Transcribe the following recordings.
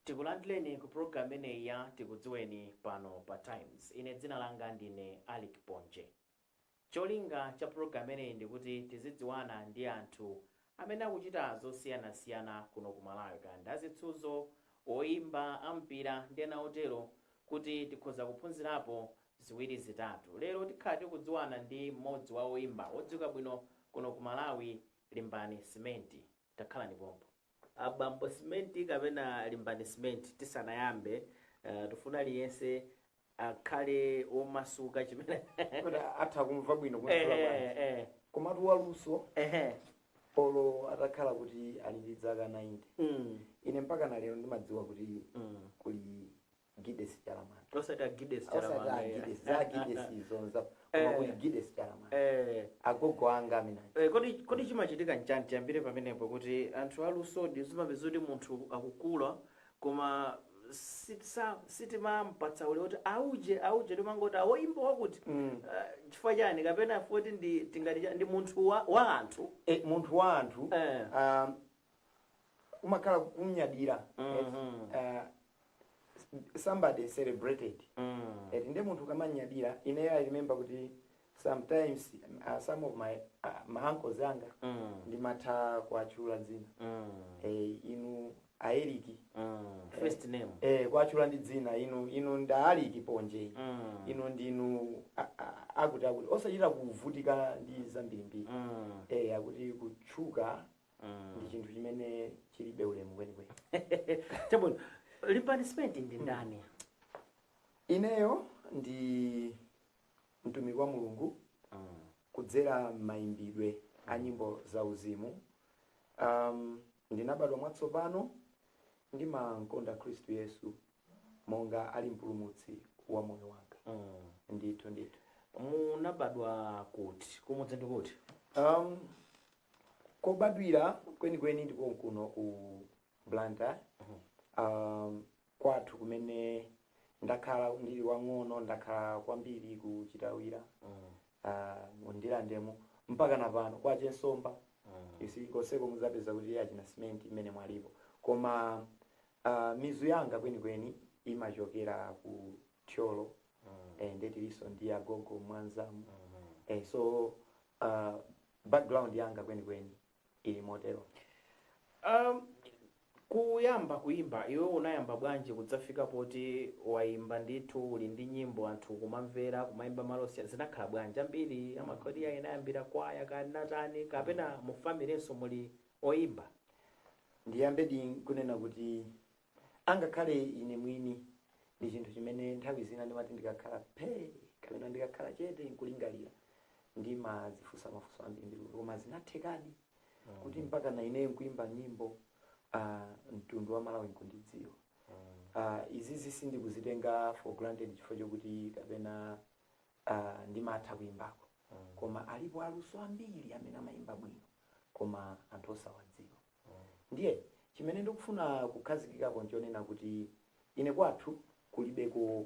tikulandireni ku program imeneyi ya tikudziweni pano pa times ine dzina langa ndine alick ponje cholinga cha program imeneyi ndikuti tizidziwana ndi anthu amene akuchita zosiyanasiyana kuno ku Malawi kaya ndi azisudzo, oimba, ampira ndi ena otero kuti tikhoza kuphunzirapo ziwiri zitatu. Lero tikhala tikudziwana ndi mmodzi wa oimba odziwika bwino kuno ku Malawi, Limbani Simenti. Takhalani pompo. A Bambo Simenti kapena Limbani Simenti tisanayambe, uh, tifuna aliyense akhale womasuka chimene kuti atha kumva bwino Eh, kuyankhula eh, bwanji eh, komatu waluso eh, eh. olo atakhala kuti ali ndi dzaka 90 Mm, ine mpaka na lero ndimadziwa kuti mm. kuli gides chalamanda osati agides osati chalamanda agides za agides izonza koma Eh. kuli gides chalamanda eh. agogo anga amene Eh, kodi kodi chimachitika nchani tiyambire pamenepo kuti anthu alusodi zimapezeka kuti munthu akukula koma sitimampatsa ulemu kuti auje auje timangoti awoimba wakuti mm. uh, chifukwa chani kapena poti ndi tingati ndi munthu wa, wa anthu e, munthu wa anthu eh. um, umakhala ukumnyadira mm -hmm. uh, somebody celebrated mm. eti nde munthu ukamamnyadira ineyo i remember kuti sometimes uh, some of my uh, ma uncles anga mm. ndimatha kuwatchula dzina mm. eh, inu aeriki mm. first name eh, kuwatchula ndi dzina inu inu nda aliki ponje mm. inu ndinu a- a- akuti akuti osachita kuvutika ndi zambirimbiri mm. eh, akuti kutchuka mm. ndi chinthu chimene chilibe ulemu kwenikweni chabwino limbani simenti ndi ndani ineyo ndi mtumiki wa Mulungu kudzera m'mayimbidwe a nyimbo zauzimu. Um, ndinabadwa mwatsopano ndimankonda Khristu Yesu monga ali mpulumutsi wa moyo wanga. Ndithu ndithu. munabadwa kuti kumudzi ndi kuti Um, kobadwira kwenikweni ndi konkuno ku blantyre um, kwathu kumene ndakhala ndili wang'ono ndakhala kwambiri ku chitawira mu ndirandemo mpaka na pano kwa che nsomba konseko muzapeza kuti achina simenti m'menemo alipo koma uh, mizu yanga kwenikweni imachokera ku thyolo eh, nde tilinso ndi agogo mwanzamu eh, so uh, background yanga kwenikweni ili motero um, kuyamba kuyimba iwe unayamba bwanji kudzafika poti wayimba ndithu uli ndi nyimbo anthu kumamvera kumayimba m'maholo osiyana zinakhala bwanji ambiri amakhala unayambira kwaya kaya chani kapena mufamilenso muli oyimba ndiyambe ndi kunena kuti angakhale ine mwini ndi chinthu chimene nthawi zina ndimati ndikakhala phee kapena ndikakhala chete nkulingalira ndimadzifunsa mafunso ambirimbiri kuti koma zinathekadi kuti mpaka na ineyo nkuimba nyimbo ah, mtundu wa malawi nkundidziwa Ah, izizi sindikuzitenga for granted chifukwa chokuti kapena ah, ndimatha kuimbako koma alipo aluso ambiri amene amayimba bwino koma anthu osawadziwa Ndiye chimene ndikufuna kukhazikikapo nchonena kuti ine kwathu kulibeko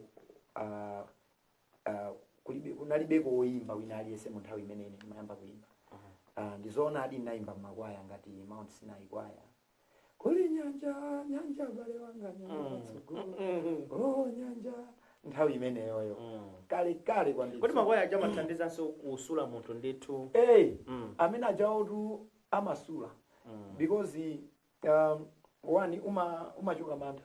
ah, ah, kulibe kunalibeko woyimba wina aliyense mu nthawi imene ine ndimayamba kuyimba Ah, ndizoonadi ndinayimba m'makwaya ngati mount sinai kwaya kuli nyanja nyanja bale wanga nyanja tsogolo oh nyanja nthawi imeneyoyo kale kale kwambiri kodi makwaya aja amathandizanso kusula munthu ndithu Hey, Mm. amene ajaotu amasula mm. because um, one uma umachoka mantha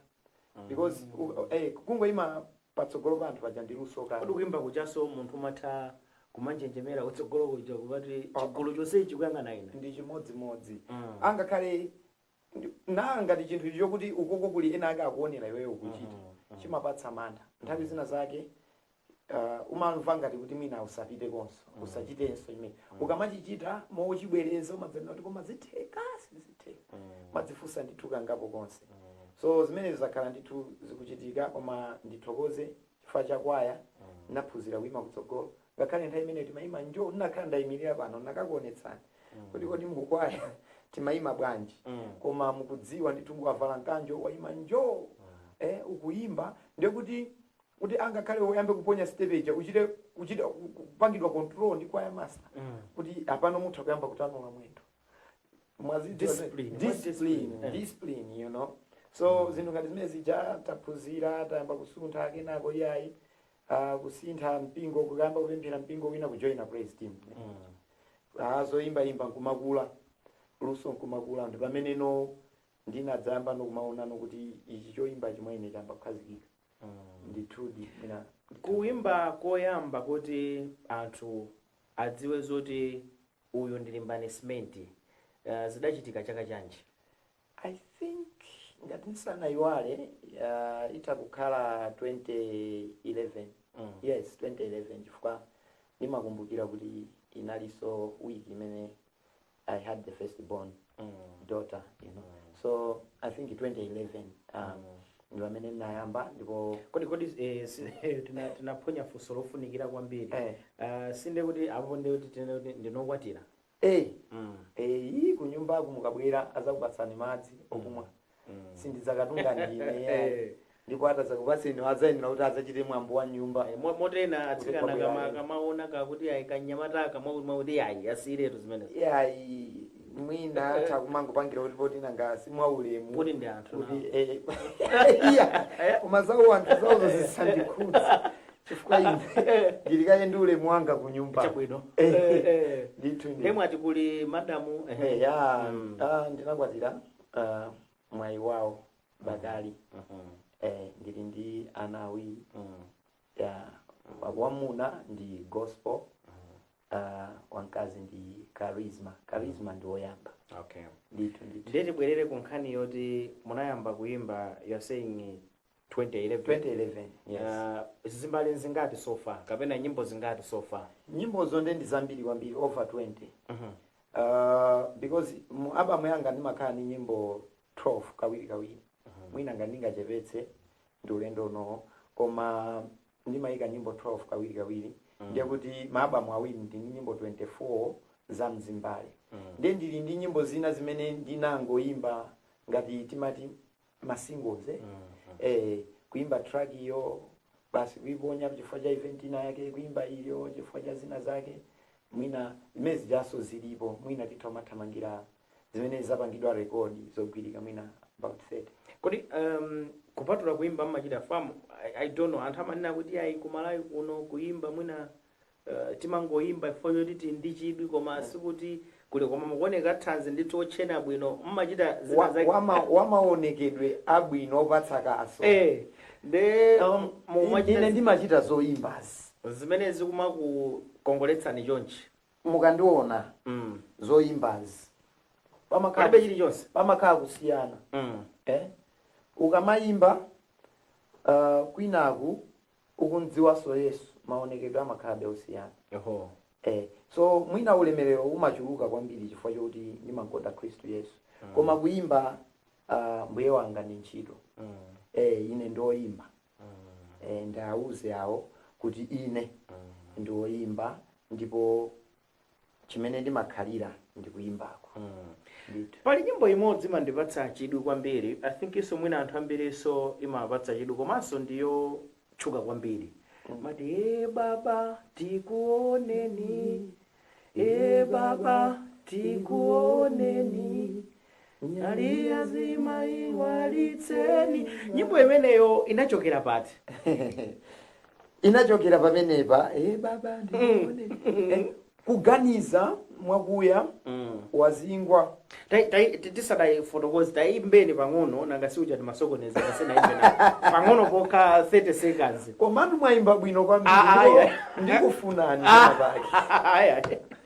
mm. because mm. eh, kungoima patsogolo pa anthu paja ndi luso kale kodi kuimba kujanso munthu umatha kumanjenjemera kutsogolo kuja kuti chigulu chonsechi chikuyang'ana ine ndi chimodzimodzi mm. angakhale Ndi- na ngati chinthu chokuti ukoko kuli ena ake akuonera iweyo ukuchita chimapatsa mantha nthawi zina zake uh, umamva ngati kuti mwina usapite konse usachitenso imene ukamachichita mochibwereza umadzanena kuti koma zitheka sizitheka umadzifunsa ndithu kangapo konse so zimenezi zakhala ndithu zikuchitika koma ndithokoze chifukwa chakwaya naphunzira kuima kutsogolo ngakhale nthawi imeneyo timayima njoo ndinakakhala ndayimilira pano ndinakakuonetsani kuti kodi mukwaya timayima bwanji Mm. koma mukudziwa ndithu mukavala mkanjo wayima njoo eh, ukuyimba ndiye kuti kuti angakhale uyambe kuponya stepeja uchite kuchita kupangidwa control ndi kwaya master Mm. kuti apano mutha kuyamba kutanula mwendo mwadzi Discipline, what discipline discipline? Eh. discipline you know so zinthu ngati zimene zija taphunzira tayamba kusuntha kenako yayi Ah, kusintha mpingo kuyamba kupemphera mpingo wina kujoina praise team Ah, zoyimbayimba nkumakula luso nkumakula ndi pamene now ndinadzayambano kumaonano kuti ichi choyimba chi mwa ine chayamba kukhazikika ndithudi mwina kuimba koyamba kuti anthu adziwe zoti uyu ndi Limbani Simenti uh, zidachitika chaka chanji I think ngati ndisanayiwale uh, itha kukhala 2011 mm. yes 2011 chifukwa ndimakumbukira kuti inalinso week imene i had the first born mm. daughter you know mm. so i think 2011 um, mm. ndi pamene ndinayamba ndipo kodi kodi eh, si- eh, tina- tinaphonya funso lofunikira kwambiri Eh. Ah, sinde kuti apo ndi kuti tinene kuti ndinokwatira A, Eeeii kunyumbaku mukabwera adzakupatsani madzi okumwa sindidzakatunga ndine iyayi. Ndipo atadzakupatseniwo adzayenera kuti adzachite mwambo wa nyumba. Eh, mo- moti ena atsikana Kuti kama kwabwera kamaona kakuti ayi kanyamata aka mwakuti mwakuti ayi asiyiretu zimenezo Iyayi mwina atha kumangopangira kuti poti nanga si mwaulemu. Kuti ndi anthu Kuti nawo. eh. Iya. Koma zawo anthu zawozo zisandikhudza. chifukwa ine Eh. ndili kaye ndi ulemu wanga ku nyumba chabwino Eh. Eh, eh. ndithu nde mwati kuli madamu eh, Eh, ya Mm. ah, ndinakwatira ah, Mwayiwawo Bakali mhm, eh, ndili ndi ana awiri mhm, ya wamuna ndi gospel ah, wamkazi ndi charisma charisma ndi woyamba okay ndithu ndithu ndiye tibwerere ku nkhani yoti munayamba kuyimba you're saying 2011 2011 yes Ah, zimbale zingati so far kapena nyimbo zingati so far nyimbozo nde ndi zambiri kwambiri over 20 Mhm. uh, because mu album yanga ndimakhala ndi nyimbo 12 kawiri kawiri mwina ngati ndingachepetse ndi ulendo unowo koma ndimayika nyimbo 12 kawiri kawiri ndiye kuti ma album awiri ndi ndi nyimbo 24 za mzimbale ndiye ndili ndi nyimbo zina zimene ndinangoyimba ngati timati ma singles eh? eh, kuimba track iyo basi kuiponya chifukwa cha event ina yake kuimba iyo chifukwa cha zina zake mwina zimene zijazo zilipo mwina titha kumathamangira zimene zapangidwa rekodi zogwirika mwina about 30 kodi um, kupatula kuimba mmachita farm I, i don't know anthu amanena kuti ayi kumalawi kuno kuimba mwina Uh, timangoyimba chifukwa choti tili ndi chidwi koma sikuti kuli koma mukuoneka thanzi ndithu otchena bwino mmachita zina Wa- zake wama- wamaonekedwe abwino opatsa kaso eh nde Um, ine mumachita ndimachita zoyimbazi zimene zikumakukongoletsani chonchi mukandiona mm. zoyimbazi palibe pamakhala chilichonse pamakhala kusiyana mm. eh? ukamayimba uh, kwinaku ukumdziwanso yesu maonekedwe amakhalabe osiyana Oho. eh, so mwina ulemerero umachuluka kwambiri chifukwa choti ndimakonda khristu yesu koma kuyimba uh, mbuye wanga ndi ntchito Mm. eh, ine ndioyimba eh, ndawauze awo kuti ine ndioyimba ndipo chimene ndimakhalira ndikuimbako ndithu pali nyimbo imodzi imandipatsa chidwi kwambiri i thinkinso mwina anthu ambirinso imawapatsa chidwi komanso ndiyotchuka kwambiri mati e baba tikuoneni e baba tikuoneni nyali ya zima iwalitseni nyimbo imeneyo inachokera pati inachokera pamenepa eh baba ndikuoneni Eh, kuganiza mwakuya ukazingwa Tai- tai- ti- tisadayifotokoze tayimbeni pang'ono nanga siuja timasokoneza kaye tayimbeni pang'ono pokha 30 seconds komatu mwaimba bwino Ah, ah, kwambiri yeah. ndikufunani Ah, pake aya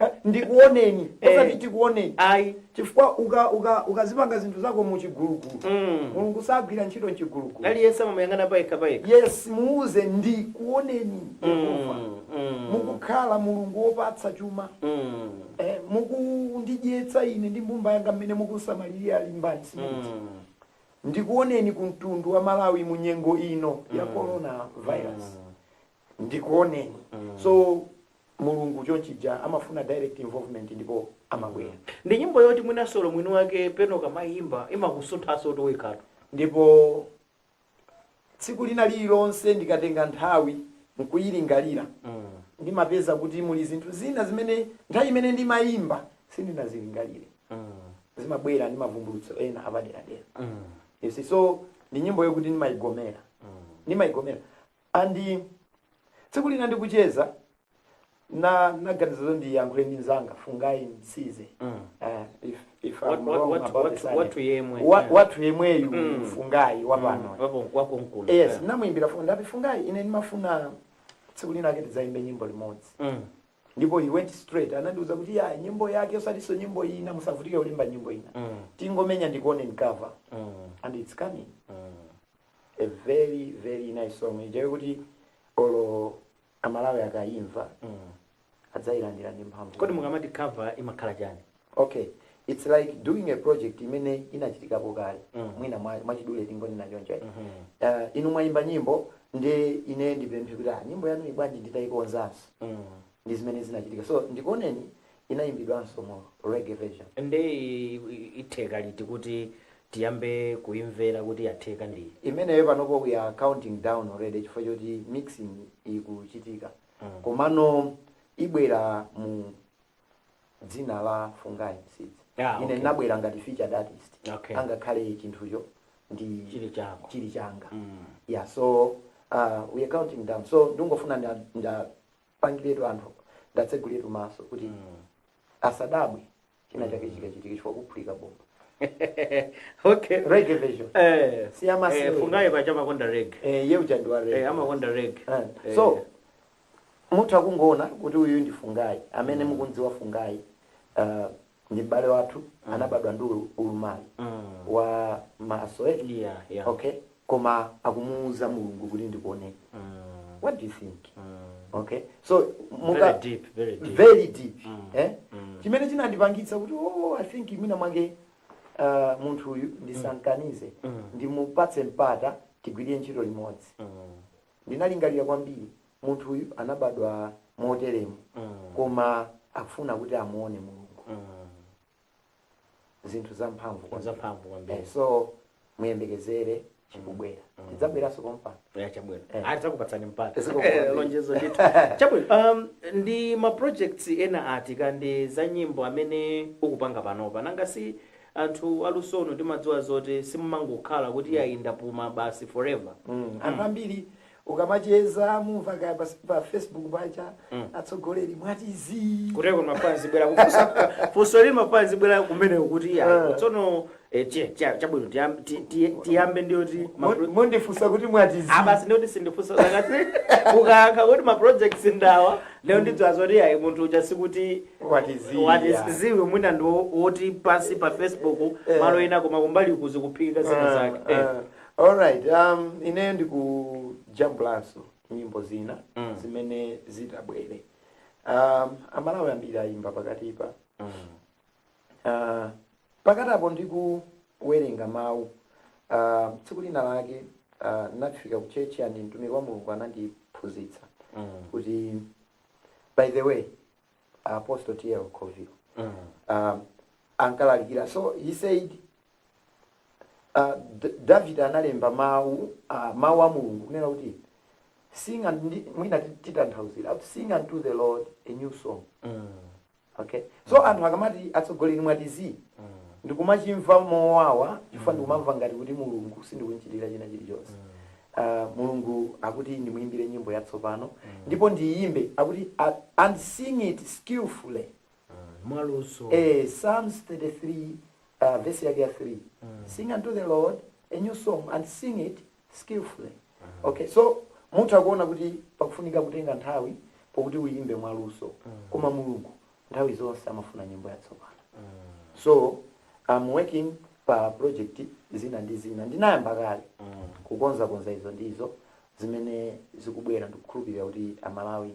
Eh, ndikuoneni Eh. osati tikuoneni ayi chifukwa uka- uka- ukazipanga zinthu zako muchigulugulu Mm. mulungu sagwira ntchito mchigulugulu aliyense amamuyang'ana payekha payekha yes muuze ndikuoneni yehova Mm, mm, mukukhala mulungu wopatsa chuma mm, eh, mukundidyetsa ine ndi mbumba yanga mmene mukusamalirira alimbani zimenezi mm. ndikuoneni ku mtundu wa malawi mu nyengo ino ya corona virus ndikuoneni so mulungu chonchija amafuna direct involvement ndipo amabwera ndi nyimbo yoti mwina olo mwini wake pena ukamayimba imakusunthaso kuti uyikhatu ndipo tsiku lina lililonse ndikatenga nthawi nkuyilingalira ndimapeza kuti muli zinthu zina zimene nthawi imene ndimayimba sindinazilingalire zimabwera ndi mavumbulutso ena apaderadera yes, so ndi nyimbo yokuti ndimayigomera ndimayigomera And tsiku lina ndikucheza naganiza zoti ndiyankhule ndi mzanga fungai msize Eh, if, if I'm Wat- wat- wrong wat- about wat- the surname. wathu yemwe. Wa- wathu yemweyu Mm. fungai wapano Wapo wako mkulu. yes namuimbira foni ndati fungai ine ndimafuna tsiku linalake tidzaimbe nyimbo limodzi Mm. ndipo he went straight anandiuza kuti ya nyimbo yake osatiso nyimbo ina musavutike kulimba nyimbo ina Mm. tingomenya ndikuoneni cover Mm. and it's coming Mm. a very very nice song ija yokuti olo amalawi akayimva adzayilandira ndi mphamvu kodi mukamati cover imakhala chani okay it's like doing a project imene inachitikapo kale Mm. mwina mwa- mwachidule tingonena choncho eh. Mhm. uh, inu mwayimba nyimbo nde ine ndipemphe kuti ah, nyimbo yanuyi bwanji nditayikonzanso Mm. ndi zimene zinachitika so ndikuoneni inayimbidwanso mu reggae version nde i- i- itheka liti kuti tiyambe kuimvera kuti yatheka ndi. imeneyo panopo we are counting down already chifukwa choti mixing ikuchitika komano ibwera mu dzina la fungai msidzi Yeah, ine okay. ndinabwera ngati featured artist Okay. angakhale chinthucho ndi Chili chako. chili changa yeah so uh, we are counting down so ndingofuna nda- ndiwapangiretu anthu ndiwatseguliretu maso kuti asadabwe china chake chikachitika chifukwa kuphulika bomba okay reggae version eh Si ya masiku. eh, fungai paja amakonda reggae eh uja ndi wa reggae eh amakonda reggae Eh, Eh, so munthu akungoona kuti uyu ndi fungai amene mukumdziwa fungai uh, ndi m'bale wathu anabadwa ndi ulu- ulumali mm. wa maso eh? yeah yeah okay koma akumuuza mulungu kuti ndikuoneni what do you think okay so monga Very deep, very deep. very deep eh chimene chinandipangitsa kuti oh i think imina mwange uh, munthu uyu ndisankanize ndimupatse mpata tigwirire ntchito limodzi ndinalingalira kwambiri munthu uyu anabadwa moteremu koma akufuna kuti amuone mulungu zinthu zamphamvu kwambiri. zamphamvu Eh, kwambiri so muyembekezere chikubwera tidzabweranso pompano ya chabwino Eh. tidzakupatsani mpata Zikomo Eh, kwambiri. lonjezo ndithu chabwino um, ndi ma projects ena ati kaya ndi za nyimbo amene ukupanga panopa nanga si anthu alusonu timadziwa zoti simumangokhala kuti ayi ndapuma basi forever Mm, anthu ambiri ukamacheza umamva kaya pa, pa facebook paja mm. atsogoleri mwati zii kuteroko mafans abwera kufunsa funso ili mafans abwera kumene kuti iya Ah. tsono eh, tiye- tiye- chabwino tiyam- ti- ti- tiyambe ndiyoti Mo- mondifunsa kuti mwati zii abasi ndiyoti sindifunsa zakati mukayankha kuti maprojects ndi awa lero ndidziwa zoti ayi munthu uja sikuti What is he, what is yeah. ziwe mwina ndi wo- woti pa zii pa facebook Eh. malo ena koma kumbali kuzikuphikika zina zake Eh. Alright, um, ineyo ndikujambulanso nyimbo zina Mm. zimene zitabwere um, amalawi ambiri ayimba pakatipa Mm. uh, pakati apo ndikuwerenga mawu uh, tsiku lina lake uh, ndinafika ku chechi and mtumiki wa mulungu anandiphunzitsa Mm. kuti by the way apostle tl covil Mm. um, ankalalikira so he said Uh, David analemba mawu uh, mawu a Mulungu kunena kuti sing and mwina titanthauzira sing unto the Lord a new song mm. okay so mm. anthu akamati atsogoleri mwati zii mm. ndikumachimva mowawa chifukwa mm. ndikumamva ngati kuti Mulungu sindikumuchitira china chilichonse mm. Uh, mulungu akuti ndimuyimbire nyimbo yatsopano mm. ndipo ndiyimbe akuti uh, and sing it skillfully mwaluso Eh, Psalms 33, uh, verse yake ya 3. Sing unto the Lord a new song and sing it skillfully. Okay, so munthu akuona kuti pakufunika kutenga nthawi pokuti uyimbe mwaluso. Koma Mulungu nthawi zonse amafuna nyimbo yatsopano. So I'm working pa project zina ndi zina. Ndinayamba kale kukonza konza izo ndizo zimene zikubwera ndikukhulupirira kuti Amalawi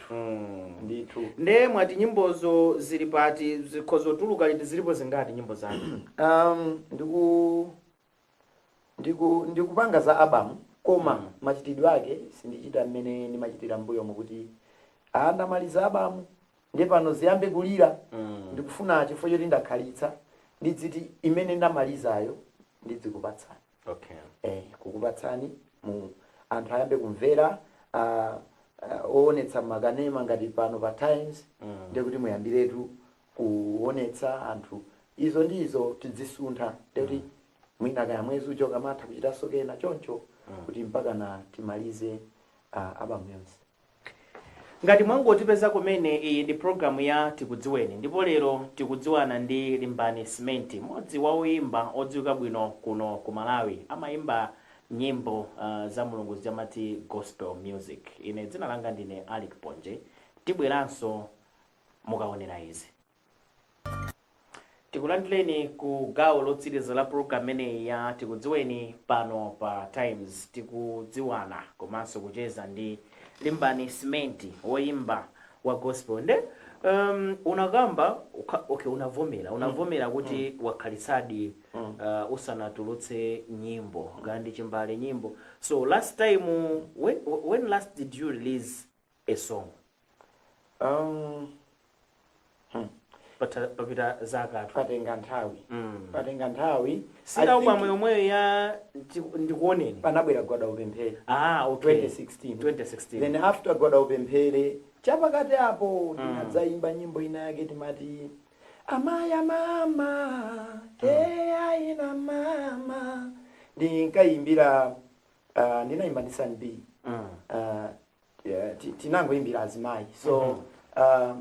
Mm. ndithu nde mwati nyimbozo zili pati zikhoza kutuluka liti zilipo zingati nyimbo zanu um, ndiku ndiku ndikupanga za album koma Mm. machitidwe ake sindichita mmene ndimachitira mbuyomu kuti ndamaliza album nde pano ziyambe kulira Mm. ndikufuna chifukwa choti ndakhalitsa ndidziti imene ndamalizayo ndidzikupatsani okay eh, kukupatsani inu anthu ayambe kumvera ah, ah, owonetsa makanema ngati pano pa times Mm. ndiye kuti muyambiretu kuonetsa anthu izo ndi izo tidzisuntha ndiye kuti mwina kaya mwezi uja ukamatha kuchitanso kena choncho kuti mpakana timalize ah, album yonse Ngati mwangotipeza kumene, iyi ndi programu ya Tikudziweni, ndipo lero tikudziwana ndi Limbani Simenti, mmodzi wa oyimba odziwika bwino kuno ku Malawi. Amayimba nyimbo za Mulungu zija amati Gospel Music. Ine dzina langa ndine Alick Ponje. Tibweranso mukaonera izi. tikulandireni ku gawo lotsiriza la program imeneyi ya tikudziweni pano pa times tikudziwana komanso kucheza ndi limbani simenti woyimba wa gospel nde um, unakamba ukha- okay unavomera unavomera kuti wakhalitsadi uh, usanatulutse nyimbo kaya ndi chimbale nyimbo so last time when, when last did you release a song um, hmm. Patha- papita zakatu patenga nthawi Mm. patenga nthawi I si album think yomweyo ya ndi- ndikuoneni panabwera gwada upemphere ah okay 2016 2016 then after gwada upemphere chapakati apo ndinadzayimba nyimbo ina yake timati amaya mama keaina mama ndinkayimbira uh, ndinayimba ndi San B mm. uh, Yeah, ti- tinangoimbira azimayi so uh,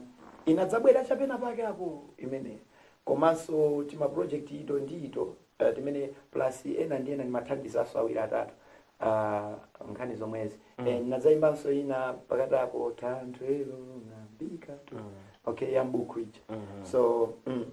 inadzabwera chapena pake apo imene komanso tima project ito ndi ito uh, timene plus ena ndi ena ndimathandizaso awiri atatu uh, nkhani zomwezi mm. eh, ndinadzayimbanso ina pakati apo tanthwelo ng'ambika tu okay ya mbuku ija so mm,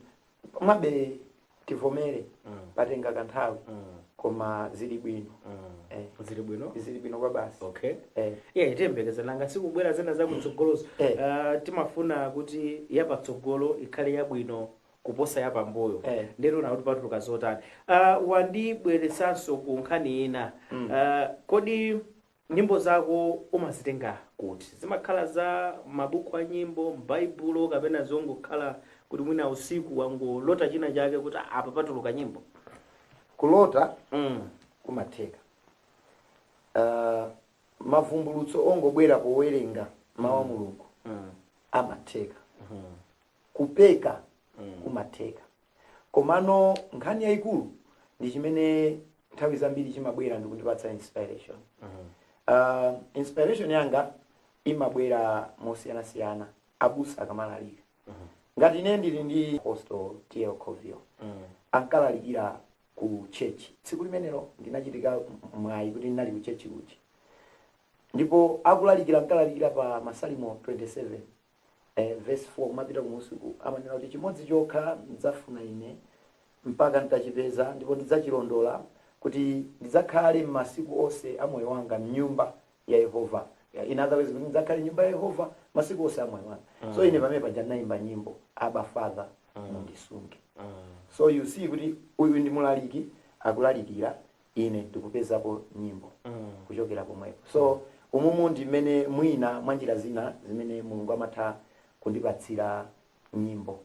komabe tivomere mm. patenga kanthawi mm. koma zili bwino mm. eh. zili bwino zili bwino kwa basi okay eh. yeah tiyembekeza nanga sikubwera zina za kutsogolozo eh. uh, timafuna kuti yapatsogolo ikhale yabwino kuposa yapambuyo eh. nde tiona kuti patuluka zotani uh, wandibweretsanso ku nkhani ina mm. uh, kodi Nyimbo zako umazitenga kuti? Zimakhala za m'mabuku a nyimbo, m'Baibulo kapena zongokhala kuti mwina usiku wangolota china chake kuti "Ah, apa patuluka nyimbo? Kulota Mm. kumatheka. Ah, mavumbulutso ongobwera powerenga mawu a Mulungu Mm. amatheka. Mhm. Kupeka Mm. kumatheka. komano nkhani yayikulu ndi chimene nthawi zambiri chimabwera ndikundipatsa inspiration uh, inspiration yanga imabwera mosiyanasiyana abusa akamalalika ngati ine ndili ndi Apostle T.L. Covio ankalalikira ku church tsiku limenelo ndinachitika mwayi kuti ndinali ku church kuchi ndipo akulalikira ankalalikira pa masalimo 27 eh, verse 4 kumapita kumunsi uku amanena kuti chimodzi chokha ndidzafuna ine mpaka nditachipeza ndipo ndidzachilondola kuti ndidzakhale m'masiku onse a moyo wanga mnyumba ya yehova Ya, in other words kuti ndidzakhale mnyumba ya yehova masiku onse a moyo wanga so ine pamene paja ndinayimba nyimbo Abba Father mundisunge so you see kuti uyu ndi mulaliki akulalikira ine ndikupezapo nyimbo mm. kuchokera pomwepo so umumu ndi mmene mwina mwa njira zina zimene mulungu amatha kundipatsira nyimbo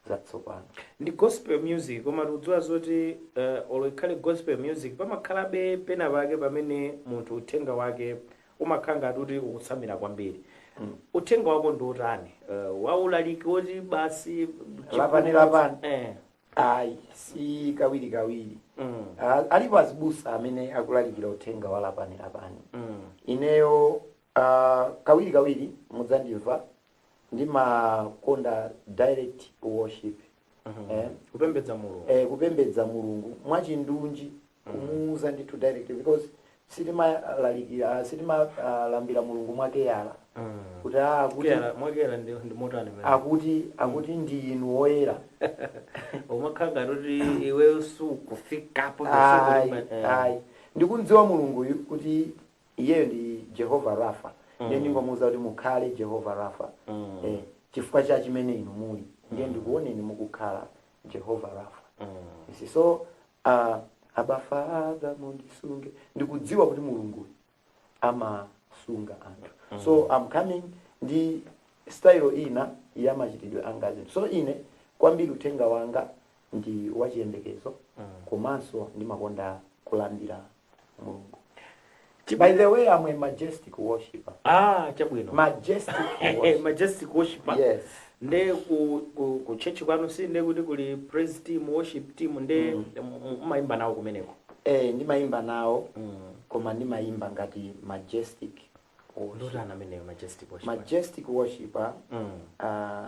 zatsopano ndi gospel music koma tikudziwa zoti uh, olo ikhale gospel music pamakhalabe pena pake pamene munthu uthenga wake umakhala ngati kuti ukutsamira kwambiri mm. uthenga wako ndi wotani uh, waulaliki woti basi Lapani, lapani. eh. ayi si kawirikawiri Mm. Ah, alipo azibusa amene akulalikira uthenga wa lapani lapani Mm. ineyo ah, kawirikawiri mudzandimva ndimakonda direct worship eh, kupembedza mulungu eh, kupembedza mulungu mwachindunji kumuuza ndithu direct because sitimalalikira sitimalambira mulungu mwakuyala kuti ah, akuti Kuyala- mwakuyala ndi ndi motani pamene? akuti akuti ndi inu woyera umakhala ngati kuti iweyo sukufikapo Ayi, ayi ndikumdziwa mulunguyu kuti iyeyo ndi jehova rapha ndiye ndingomuuza kuti mukhale jehova rapha Mm. Eh, chifukwa cha chimene inu muli ndiye ndikuoneni mukukhala jehova rafa You see, so uh, Abba Father mundisunge ndikudziwa kuti mulungu amasunga anthu so i'm coming ndi style ina ya machitidwe anga azinthu so ine kwambiri uthenga wanga ndi wachiyembekezo komanso ndimakonda kulambira mulungu Chi- by the way i'm a majestic worshiper ah chabwino majestic Eh, worshiper majestic worshiper yes nde ku, ku, ku church kwanu si nde kuti kuli praise team worship team nde m- m- umayimba nawo kumeneko eh ndimayimba nawo Mm. koma ndimayimba ngati majestic worshiper. ndotana ameneyo majestic worshiper majestic worshiper mm. uh,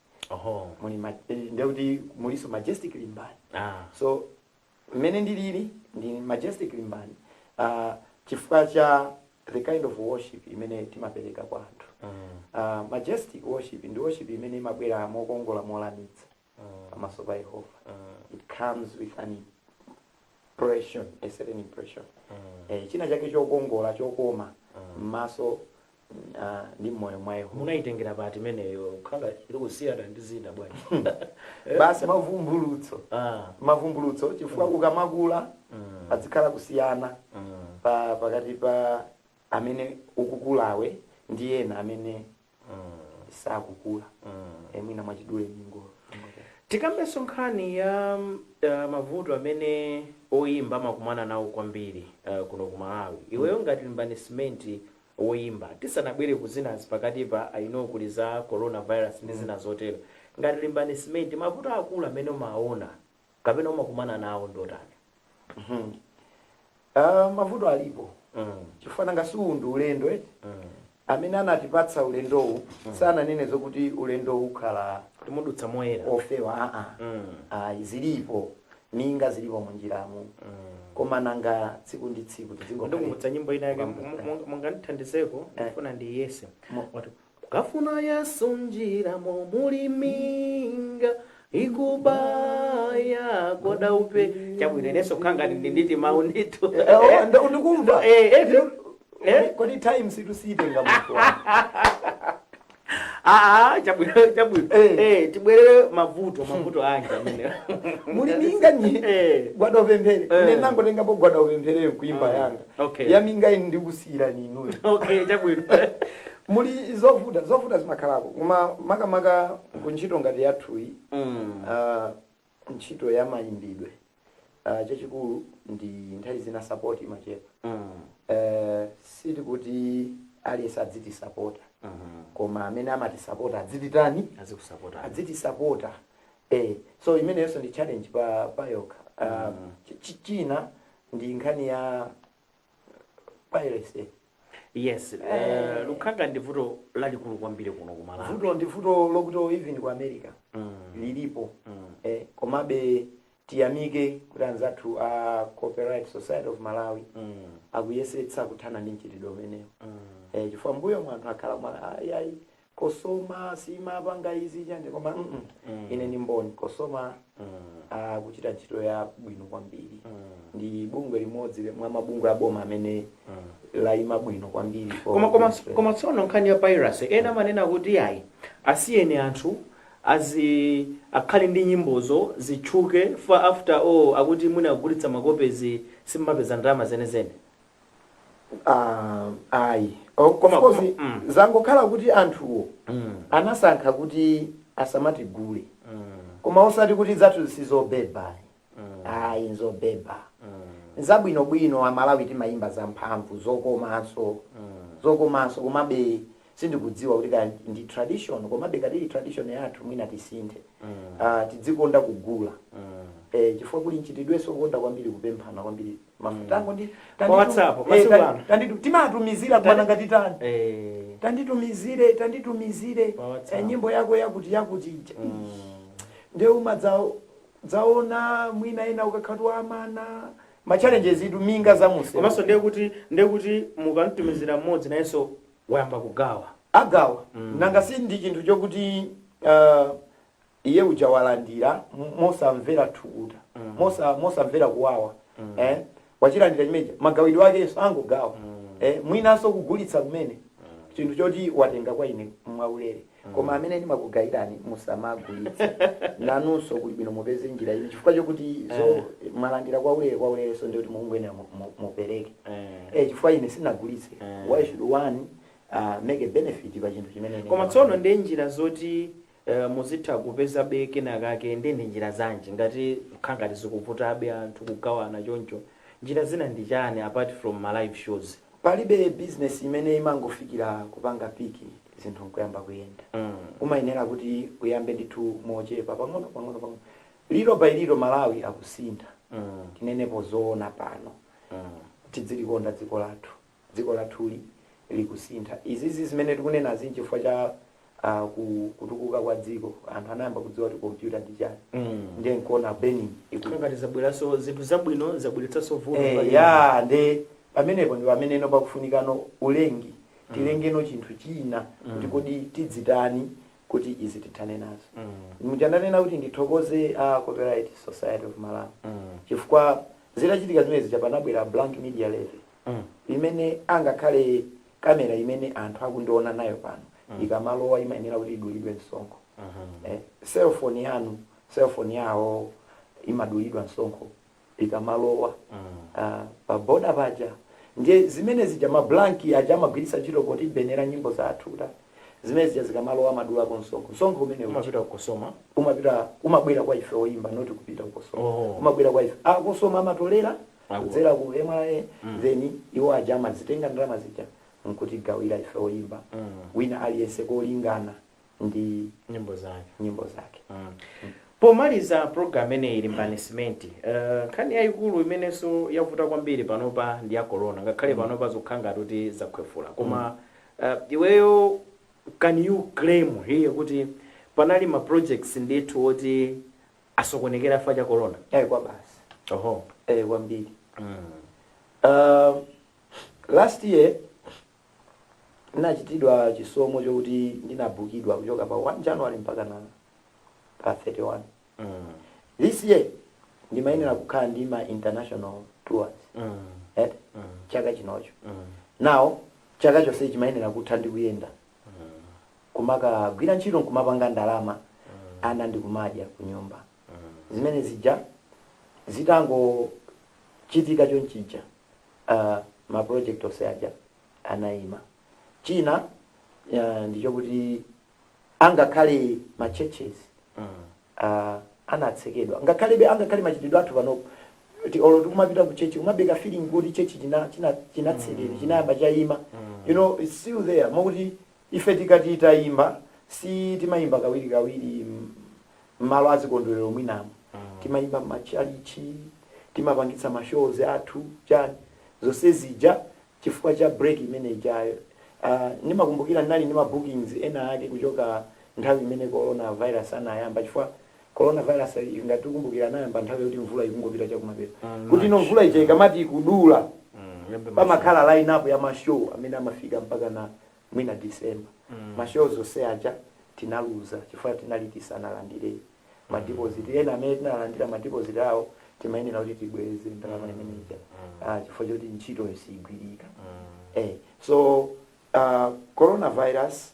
oho muli ma- eh, ndiye kuti mulinso majestic limbani ah so mmene ndiliri ndi majestic limbani uh, chifukwa cha the kind of worship imene timapereka kwa anthu mm. uh, majestic worship ndi worship imene imabwera mokongola molamitsa Mm. pamaso pa yehova Mm. it comes with an impression a certain impression Mm. eh, china chake chokongola chokoma Mm. m'maso Ah, ndi mmoyo mwa yehova munayitengera pati imeneyi kukhala ikusiyana ndi zinazi bwana basi mavumbulutso Ah, mavumbulutso chifukwa ukamakula mm, padzikhala kusiyana mm, pa pakati pa amene ukukulawe ndi ena amene mm, sakukula mm. e mwina mwachidule tingotikambenso nkhani ya mm, ah, mavuto amene oyimba amakumana nawo kwambiri ah, kuno ku malawi iweyo ngati limbani simenti woyimba tisanabwere ku zinazi pakatipa i know kuli za corona virus ndi zina zotero ngati limbani simenti mavuto akulu amene umaona kapena umakumana nawo ndi otani Ah, mavuto alipo mm. chifukwa nanga si uwu ndi ulendo eti mm. amene anatipatsa ulendowu sananene zokuti ulendowu ukhala kuti mudutsa moyera ofewa aa mm. ayi zilipo minga zilipo munjiramu koma nanga tsiku ndi tsiku tizingokhala ndikumbutsa nyimbo ina yake Kukambutsira. mu- mu- mungandithandizeko Eh. ndifuna ndiyese Mo- Wati, kukafuna yesu njira mo muli minga ikubaya gwada upe chabwino inenso kangati ndi nditi mawu ndithu Eh, oh, ndo- ndikumva Eh, eh, eh. kodi time situsiyitenga munthu wako Aa, chabwino chabwino Eh. eh, tibwerere mavuto mavuto aja amene muli minga nyi Eh. gwada upemphere Eh. ine nangotengapo gwada upemphere nkuimba Ah, yanga okay. ya minga ine ndikusiyira inuyo okay chabwino muli zovuta zovuta zimakhalako koma makamaka kuntchito ngati yathuyi mm. ah, ntchito ya mayimbidwe uh, chachikulu ndi nthawi zina support imachepa mm. uh, sikuti aliyense adzitisapota mm -hmm. koma amene amatisapota adzititani azikusapota adzitisapota eh, so imeneyonso ndi challenge pa, payokha uh, mm. china ndi nkhani ya piracy yes eh, lukhanga ndi vuto lalikulu kwambiri kuno ku malawi vuto ndi vuto lokuti even ku america lilipo eh, komabe tiyamike kuti anzathu a copyright society of malawi akuyesetsa kuthana ndi mchitidwe umenewu eh, chifukwa m'mbuyomu anthu akhala amati ayi ayi Cosoma siimapanga izi chani koma mm mm ine ndi mboni Cosoma akuchita ntchito yabwino kwambiri ndi bungwe limodzi le- mwa mabungwe aboma amene laima bwino kwambiri for koma koma Australia. koma tsono nkhani ya piracy ena amanena kuti ayi asiyeni anthu azi akhale ndi nyimbozo zitchuke for after all akuti mwina kugulitsa makopezi simumapeza ndalama zenizeni Ah, ayi O- Of koma course, koma- mm, zangokhala kuti anthuwo mm, anasankha kuti asamatigule mm, koma osati kuti zathu sizobeba mm, ayi nzobeba mm, zabwinobwino amalawi timayimba zamphamvu zokomanso mm. zokomanso komabe sindikudziwa kuti kaya ndi tradition komabe ngati ili tradition yathu mwina tisinthe Ah, tidzikonda kugula Eh, chifukwa kuli mchitidwenso wokonda kwambiri kupemphana kwambiri mafutango ndi tanditu- WhatsApp, eh, masiku tan- ano. tanditu- timatumizira bwana ngati tani Eh, tanditumizire tanditumizire Pa WhatsApp. eh, nyimbo yako yakuti yakuti ija mm, nde umadzaona mwina ena ukakhatu amana machallenges itu minga zamuseu komanso ndiye kuti ndiye kuti mukamtumizira mmodzi nayenso wayamba kugawa agawa mm. nanga si ndi chinthu chokuti uh, iye uja walandira m- mosamvera thukuta mm. mosa, mosamvera kuwawa mm. eh? wachilandira chimene chija magawidwe akenso angogawa mm. eh? mwinanso kugulitsa kumene mm. chinthu choti watenga kwa ine mwaulere koma amene ndimakugayirani musamagulitse nanunso kuli bwino mupeze njira ina chifukwa chokuti zo Eh. mwalandira kwa ulere kwa ulerenso ndiye kuti mukungoyenera mu- mu- mupereke Eh. eh, chifukwa ine sinagulitse Eh. why should one uh, make a benefit pa chinthu chimene ine koma ndawapanga? tsono ndi njira zoti eh, muzitha kupezabe kenakake ndi ndi njira zanji ngati kukhala ngati zikuvutabe anthu kugawana choncho njira zina ndi chani apart from ma live shows palibe business imene imangofikira kupanga peak zinthu nkuyamba kuyenda umayenera kuti uyambe ndithu mochepa pang'ono pang'ono pang'ono little by little malawi akusintha tinenepo zoona pano tidzilikonda dziko lathu dziko lathuli likusintha izizi zimene tikunenazi nchifukwa cha ah, ku- kutukuka kwa dziko anthu anayamba kudziwa kuti kompyuta ndi chani ndiye nkuona piracy iku- ngati zabweranso zinthu zabwino zabweretsanso vuto Eh, pali- ya nde pamenepo ndi pameneno pakufunikano ulengi tilengeno chinthu china kuti kodi tidzitani kuti izi tithane nazo muja ndanena kuti ndithokoze a copyright society of malawi chifukwa zitachitika zimenezi ija panabwera blank media levy imene angakhale kamera imene anthu akundiona nayo pano ikamalowa imayenera kuti idulidwe msonkho eh, cellphone yanu cellphone yawo imadulidwa msonkho ikamalowa ah, pa boda paja ndiye zimene zija mablanki aja amagwiritsa ntchito potibenera nyimbo zathu ta zimene zija zikamalowa amadulako msonkho msonkho umene uja umapita ku cosoma umapita umabwera kwa ife oyimba not kupita kukosoma Oh. umabwera kwa ife a cosoma amatolera Awo. kudzera ku mra then iwo aja amazitenga ndalama zija nkutigawira ife oyimba wina aliyense kolingana ndi nyimbo zake nyimbo zake mm. pomaliza program imeneyi limbani simenti eh, nkhani yayikulu imenenso yavuta kwambiri panopa ndi ya corona ngakhale panopa zikukhala ngati kuti zakhwefula koma eh, iweyo can you claim here kuti panali ma projects ndithu oti asokonekera chifukwa cha corona eh kwa basi oho eh kwambiri mm. uh, last year Ndinachitidwa chisomo chokuti ndinabukidwa kuchoka pa 1 January mpakana pa 31 this year ndimayenera kukhala ndi ma international tours eti chaka chinocho. Now chaka chonse chimayenera kutha ndikuyenda kumakagwira ntchito nkumapanga ndalama ana ndikumadya kunyumba zimene zija zitangochitika chonchija. uh, ma project onse aja anayima china uh, ndichokuti angakhale ma churches uh, anatsekedwa ngakhalebe angakhale machitidwe athu panopo kuti olo tikumapita ku tchetchi kumamveka feeling kuti tchetchi china china chinatsekedwa chinayamba chayima you know it's still there mokuti Ife tikati tayimba, si timayimba kawirikawiri mmalo azikondwerero mwinamo, timayimba mma tchalitchi, timapangitsa ma shows athu, chani, zonse zija chifukwa cha break imene ijayo, aah ndimakumbukira ndinali ndi ma bookings ena ake kuchoka nthawi imene Corona virus anayamba chifukwa Corona virus if ngati tikumbukira anayamba nthawi yoti mvula ikungopita chakumapeto kutino March, mvula ija yeah. ikamati ikudula Mm, yambe masewerowo. pamakhala line up ya ma show amene amafika mpakana mwina december mashow onse aja tinaluza chifukwa tinali tisanalandire madipoziti ena amene tinalandira madipoziti awo timayenera kuti tibweze ndalama imene ija Ah, chifukwa choti ntchito siyigwirika eh, so uh, coronavirus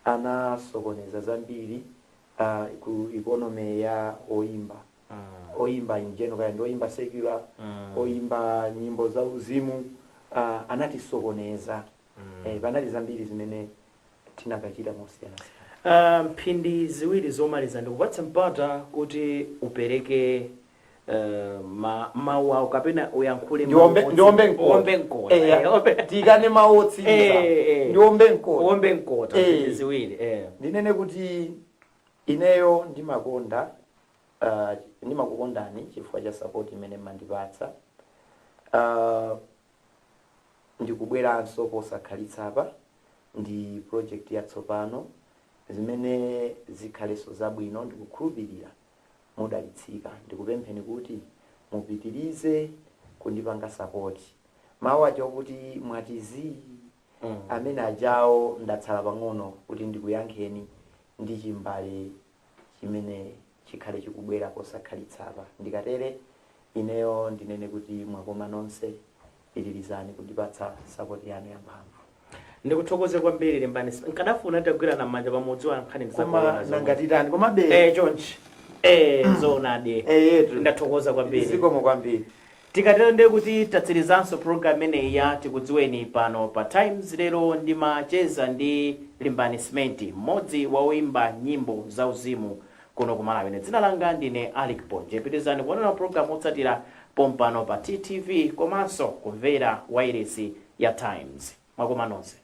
anasokoneza zambiri uh, ku economy ya oyimba oyimba in general kaya ndi oyimba secular oyimba nyimbo za uzimu uh, anatisokoneza Eh, panali zambiri zimene tinakachita mosiyana Ah, mphindi ziwiri zomaliza ndikupatsa mpata kuti upereke eh, ma- mawu ako kapena uyankhule mawu ndiombe otsi- ndiombe mkota uombe mkota Eh, eh, uombe- ndikane mawu otsiriza Eh, eh. ndiombe mkota uombe mkota Eh. mphindi ziwiri eh. ndinene kuti ineyo ndimakonda uh, ndimakukondani chifukwa cha sapoti imene mmandipatsa uh, Ndikubweranso posakhalitsapa ndi project yatsopano zimene zikhaleso zabwino ndikukhulupilira mudalitsika ndikupempheni kuti mupitilize kundipanga support mawu aja okuti mwati ziii amene ajawo ndatsala pang'ono kuti ndikuyankheni ndi chimbale chimene chikhale chikubwera posakhalitsapa. Ndikatere, ineyo ndinene kuti mwakoma nonse. Pitirizani kundipatsa sapoti yanu yamphamvu. ndikuthokoze kwambiri limbani nkadafuna tagwirana m'manja pamodzi wa nkhani Koma nanga titani komabe eh chonchi eh zoonadi eyetu ndathokoza kwambiri zikomo kwambiri Tikatero ndiye kuti tatsilizanso program imeneyi ya tikudziweni pano pa Times lero ndimacheza ndi Limbani Simenti mmodzi wa oyimba nyimbo za uzimu kuno ku Malawi ine dzina langa ndine Alick Ponje pitilizani kuonera ma program otsatira pompano pa TTV komanso kumvera wailesi ya Times mwakoma nonse.